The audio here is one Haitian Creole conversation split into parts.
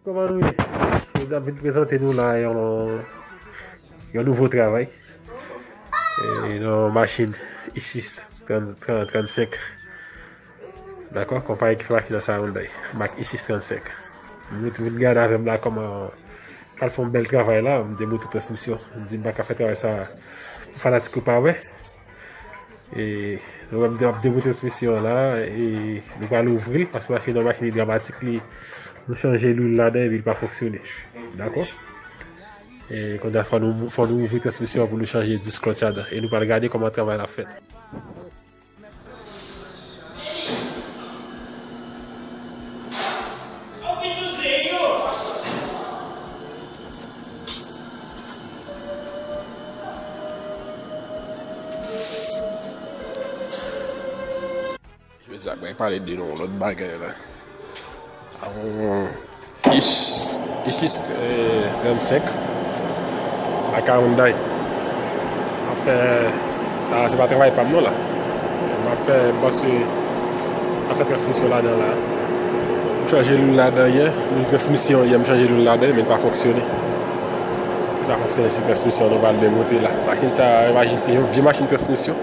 Koman nou ye? Nou ap vin prezante nou la yon nouvo travay. Yon machin Isis 35. Dakò? Konpayi ki fè machin nan sa Hyundai. Mak Isis 35. Nou te vin gade avè m la koman pral fè yon bèl travay la. M te montre transmisyon. M di m pa ka fè travay sa pou fanatik yo pa wè. E nou wèm ap demoute transmisyon an la e nou pral ouvri paske machin nan machin idramatik li nou chanje lwil ladan epi li pa fonksyone. Dakò? E konda fò nou fò nou ouvri transmisyon an pou nou chanje disk lòt ladan e nou pral gade kòman travay la fèt. Mwen pale de yon lòt bagay la. Ichis 35 ak Hyundai map fè sa se pa travay pam non la map fè paske map fè transmisyon ladan la m chanje lwil ladan yè lwil transmisyon yè m chanje lwil ladan men li pa fonksyone li pa fonksyone se transmisyon nou pral demonte la machin sa yon vye machin transmisyon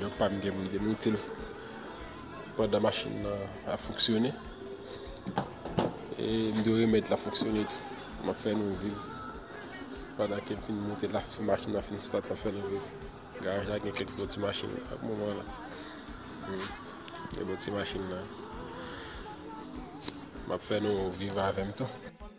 Yo pa mde mde moutil pandan machin nan a foksyone e mde remèt la foksyone tou ma fè nou viv pandan ke fin moutil la fi machin nan fin stat la fè nou viv garaj la gen kèk bon ti machin ak moman la hmm. gen bon ti machin nan ma fè nou viv avèm tou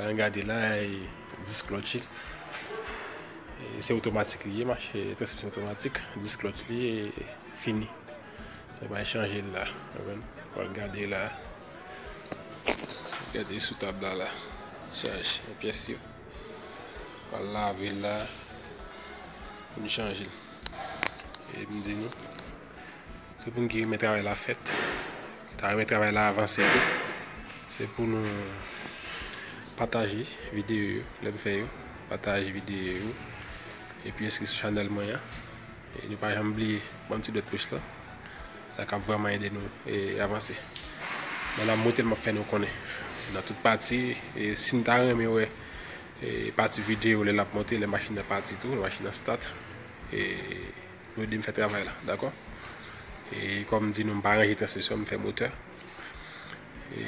An gade la e disk clutch li. E se otomatik li ye ma chè, transmisyon otomatik, disk clutch li e fini. Se bay chanje la. An gade la. Gade sou tab la la. Chaj, e pyès yo. An lave la. An chanje. E mdi nou. Se pou nou ki renmen travay la fèt, ki ta renmen travay la avanse tou. Se pou nou pataje videyo yo, lè m fè yo, pataje videyo yo. E pi enskri sou chanèl mwen an. E nou pa janm bliye banm ti dwèt pous la. Sa kap vreman ede nou e avanse. Nan la mwote l map fè nou konnen. Nan tout pati, e si nou ta renmen wè e pati videyo lè lap monte, lè machin nan pati tou, lè machin nan stat. E... Nou ede m fè travay la, dakò? E kòm m di nou m pa ranje transmisyon, m fè motè. E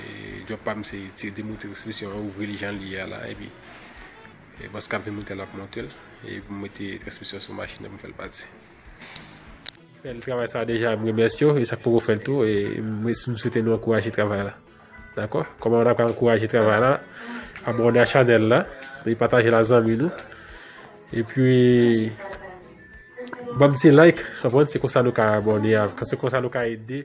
djòb pa m se tire di moute transmisyon an, ouvri li jan l ye a la, epi e bòs k ap vin moute l ap monte l, e pou m mete transmisyon sou machin nan pou m fè l pati. Fè l travay sa a deja, m remèsye w, e sa k poko fè l tou, e m swete nou ankouraje travay la. Dako koman ta ka ankouraje travay la abone a chanel la epi patajel a zanmi nou epi banm ti like se konsa nou ka abone se konsa nou ka ede.